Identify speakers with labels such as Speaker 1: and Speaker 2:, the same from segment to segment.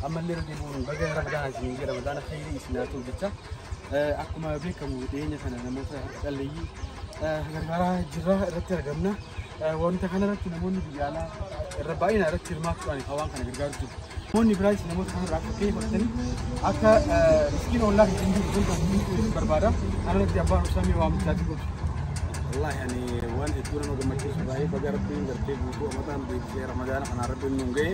Speaker 1: ammallee irra
Speaker 2: deebi'uun baga ramadaan isin jedha ramadaana khayrii isin haa ta'u jecha akkuma beekamu dhiyeenya kana namoota harka qalleeyyii gargaaraa jirra irratti argamna. Wanta kana irratti namoonni biyya alaa irra baay'inaan irratti hirmaachuudhaan hawaan kana gargaaru jiru. Namoonni biraayis namoota kanarraa akka ta'e fudhatanii akka riskiin ollaa hin jiru kun kan hunduu barbaada. Kana irratti abbaan obsaa mee waamichaa jiru. Wallaahi ani waan hedduu nama gammachiisu baay'ee baga rabbiin gartee guutuu amataan beeksisee ramadaana kanaa rabbiin nuun ga'e.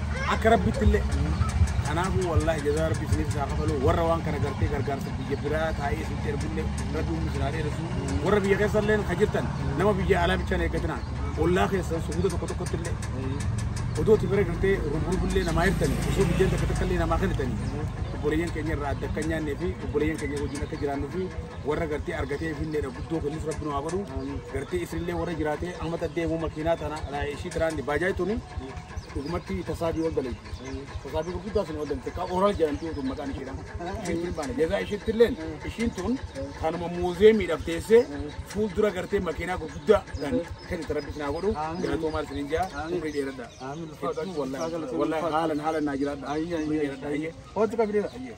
Speaker 2: akka rabbitti illee kanaafuu wallaahi jazaa rabbi isiniif isaa kafaluu warra waan kana gartee gargaarsa biyya biraa taa'ee isin ergullee rabbi humni isin haa dheeressu warra biyya keessa illee ka jirtan nama biyya alaa bichaan eeggatina ollaa keessan suuta tokko tokkotti illee odoo itti bira gartee rubrubullee namaa hirtani osoo biyyeen takka takka illee namaa kennitani obboleeyyan keenya irraa adda akka nyaannee fi obboleeyyan keenya wajjin akka jiraannu fi warra gartee argatee fi illee guddoo kennis rabbi nu haa godhu gartee isinillee warra jiraatee amma taddee immoo makiinaa tana ishii tiraanni baajaaji tuni Dhugumatti tasaabii ol dalagdi. Tasaabii gurguddaa sun ol dalagdi. Takka oral jedhamti utuu maqaan ishee dhaan. Isheen kun baana. Jazaa isheetti illeen ishiin tun kanuma muuzeemiidhaaf teessee fuuldura gartee makiinaa gurguddaa kan kennite rabbi isin haa godhu. Galatoo maal isin hin jaa umrii dheeradha. Hedduu wallahi wallahi haalan haalan naa jiraadha. Umrii dheeradha. Hayyee. Hootu qabdee. Hayyee.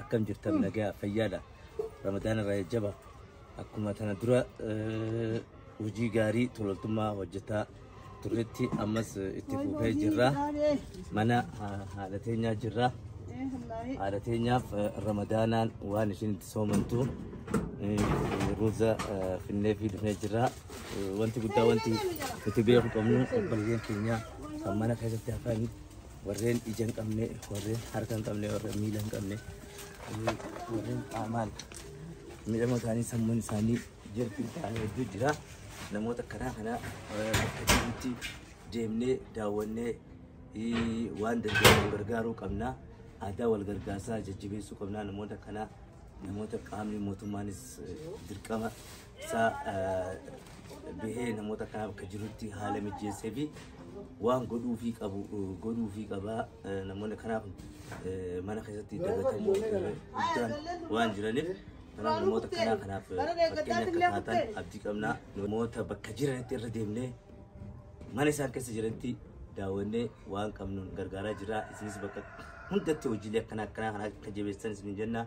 Speaker 3: akkam jirtan nagaa fayyaadha ramadaan irraa jajjaba akkuma tana dura eh, hojii gaarii tololtummaa hojjetaa turretti ammas eh, itti fufee jirra mana ha- haadha teenyaa jirra haadha teenyaaf eh, ramadaanaan waan ishiin itti soomantu eh, ruuza eh, finnee fi dhufnee jirra Eh, wanti guddaa wanti nuti beeku qabnu obboleeyyan keenya kan mana keessatti hafan warreen ija hin qabne, warreen harka hin qabne, warreen miila hin qabne, eh, warreen qaamaan miidhama isaanii sammuun isaanii jirbiin ta'an hedduu jira. Namoota karaa kanaa eh, bakka jirutti deemnee daawwannee eh, waan dandeenyu gargaaruu qabna. Aadaa wal gargaarsaa jajjabeessuu qabna. Namoota kanaa namoota qaamni mootummaanis eh, dirqama isaa bahee namoota kana bakka jirutti haala mijeessee fi waan godhuufii qabu godhuufii qabaa namoonni kanaaf mana keessatti dagatamuu guddaan waan jiraniif kanaaf namoota kanaa kanaaf fakkeenya akka taatan abdii qabnaa namoota bakka jiranitti irra deemnee mana isaan keessa jiranitti daawwannee waan qabnuun gargaaraa jira isinis bakka hundatti hojiilee akkanaa akkanaa kana akka jabeessan isin jenna.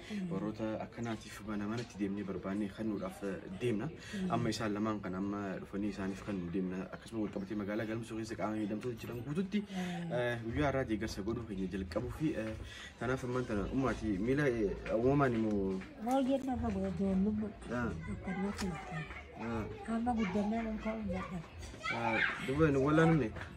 Speaker 4: warroota akkanaatiif mana manatti deemnee barbaannee kennuudhaaf deemna. Amma isaan lamaan kan amma dhufanii isaaniif kan deemna akkasuma wal qabatee magaalaa galmsuu keessa qaama miidhamtoota jiran guututti guyyaa irraa deeggarsa godhuu keenya jalqabuu fi kanaaf ammaan tana ummaati miila uumamaan immoo. Baay'een nama
Speaker 5: godhoon lubbu akkanatti amma guddannaan olkaa uummadha.
Speaker 4: Dubarri wallaan humne.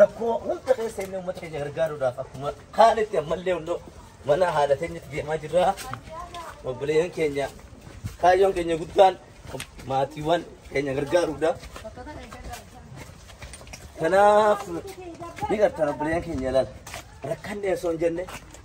Speaker 3: Rakkoo hunda keessa inni uummata keenya gargaaruudhaaf akkuma kaanitti ammallee hundoo mana haadha teenyatti deemaa jirra. Obboleeyyan keenya kaayyoon keenya guddaan maatiiwwan keenya gargaaruudha. Kanaaf ni gartaan obboleeyyan keenya ilaala. Rakkanne osoo hin jenne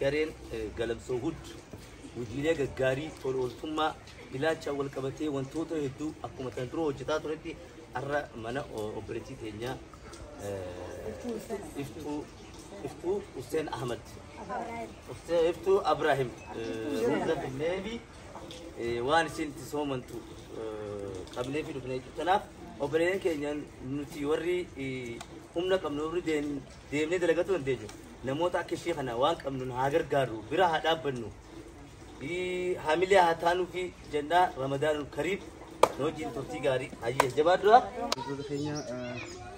Speaker 3: Gareen Galamsoo Hud hojiilee gaggaarii tola ooltummaa ilaachaan wal qabatee wantoota hedduu akkuma tan dura hojjetaa turetti har'a mana obboleettii teenyaa iftuu iftuu Hussein Ahmad Hussein iftuu Abrahim hunda finneefi waan isin itti soomantu qabnee fi dhufnee jirtanaaf obboleeyyan keenya nuti warri humna qabnu warri deemnu deemnee dalagachuu dandeenya. Namoota akka ishee kana waan qabnuun haa gargaarru, bira haa dhaabbannu, ii, hamilee haa taanuu fi jennaa Ramadaanul Kariim nu wajjin turtii gaarii hayyee jabaadhu. Wantoota keenya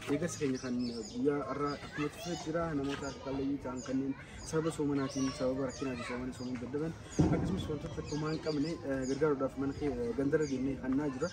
Speaker 2: deeggarsa keenya kan guyyaa har'aa akkuma turte jira namoota harka qalleeyyii ta'an kanneen sababa soomanaatiin sababa rakkinaatiin soomanii soomuu dadhaban akkasumas wantoota tokkummaa hin qabne gargaaruudhaaf mana kee gandarra deemnee hannaa jira.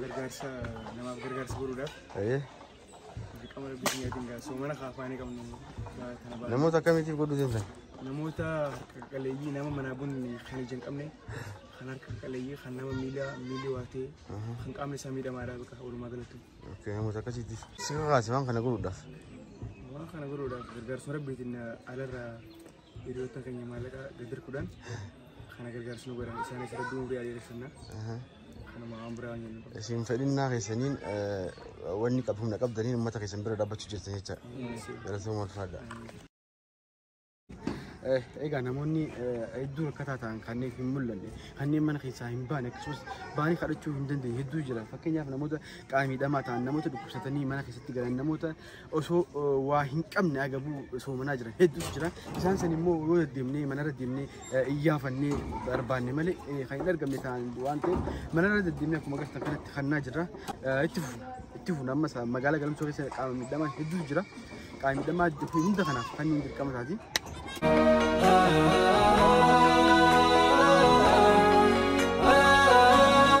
Speaker 1: gargaarsa namaaf gargaarsa godhuudhaaf
Speaker 4: dirqama rabbii keenyaatiin gaa soomana kaafaanii qabnu gaa kana ba'a. Namoota akkamiitiif godhuu deemtan? Namoota
Speaker 2: harka qaleeyyii nama manaa bunni kan ija hin qabne kan harka qaleeyyii kan nama miila miilli waatee kan qaamni isaa miidhamaadha bakka walumaa galatti. Okay, namoota akkasiitti
Speaker 4: si kakaase waan kana godhuudhaaf. Waan kana godhuudhaaf gargaarsa
Speaker 2: rabbiitiin alarraa hiriyoota keenya maallaqa gadir kudhan kana gargaarsa nu godhan isaanis rabbii umurii adeeressisanna kanuma waan biraa waan jennu. Isin fedhinnaa keessaniin
Speaker 4: eh, wanni qabdu humna qabdaniin uummata keessan bira dhaabbachuu jirtan jecha. Galatoomaa ulfaadha.
Speaker 2: Egaa namoonni hedduu rakkataa ta'an kanneen hin mul'anne kanneen mana keessaa hin baane akkasumas baanii kadhachuu hin dandeenye hedduu jira. Fakkeenyaaf namoota qaama miidhamaa ta'an namoota dhukkubsatanii mana keessatti galan namoota osoo waa hin qabne agabuu osoo manaa jiran hedduutu jira. Isaan san immoo yoo deddeemnee manarra deemnee iyyaafannee barbaanne malee kan hin argamne ta'an waan ta'eef manarra deddeemnee akkuma agartan kanatti kannaa jirra. Itti fufu itti fufu amma magaalaa galamsoo keessa qaama miidhamaa hedduutu jira. Qaama miidhamaa jiru hunda kanaaf fannoon dirqama isaati. Ah